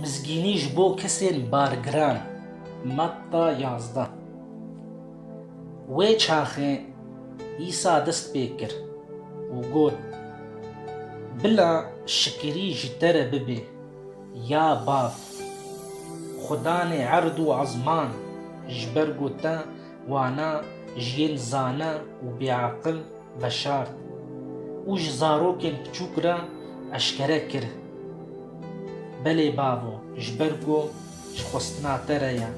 Mizgînî ji bo kesên bargiran, Matta yazdeh Wê çaxê Îsa dest pê kir û got, Bila şikirî ji te re bibe, ya Bav! Xwe danê erd û ezman ji ber ku te Wana ji yên zana û bêaqil veşart û ji zarokên piçûk re eşkere kir. Belê bavo, ji ber ku ji xwestina te re ye,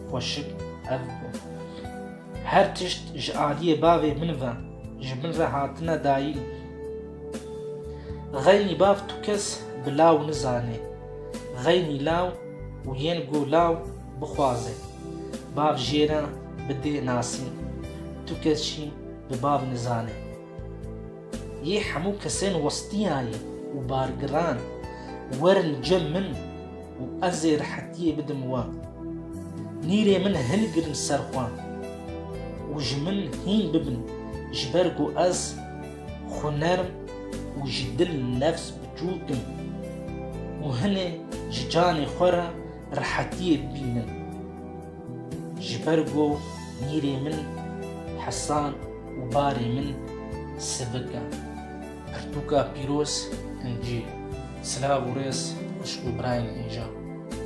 xweşik ev bû. Her tişt ji aliyê bavê min ve, ji min re hatine dayîn. Xeynî bav tu kes bi law nizanê. Xeynî law û yên ku law Bixwaze bav jêra bi dê nasî, tu kes jî bi bav nizane. Yê hemû kesên westiyayî û bargiran werin cem min û ez ê rehetiyê bidim wan. Nîrê min hilgirin ser xwe û ji min hîn bibin ji ber ku ez xwe nerm û ji dil nefs biçûk im û hinê ji canê xwe re Rehetiyê bînin. Ji ber ku nîrê min hesan û barê min sivik e. Pirtûka pîroz in cî. Silav û rêz xwişk û birayên injan.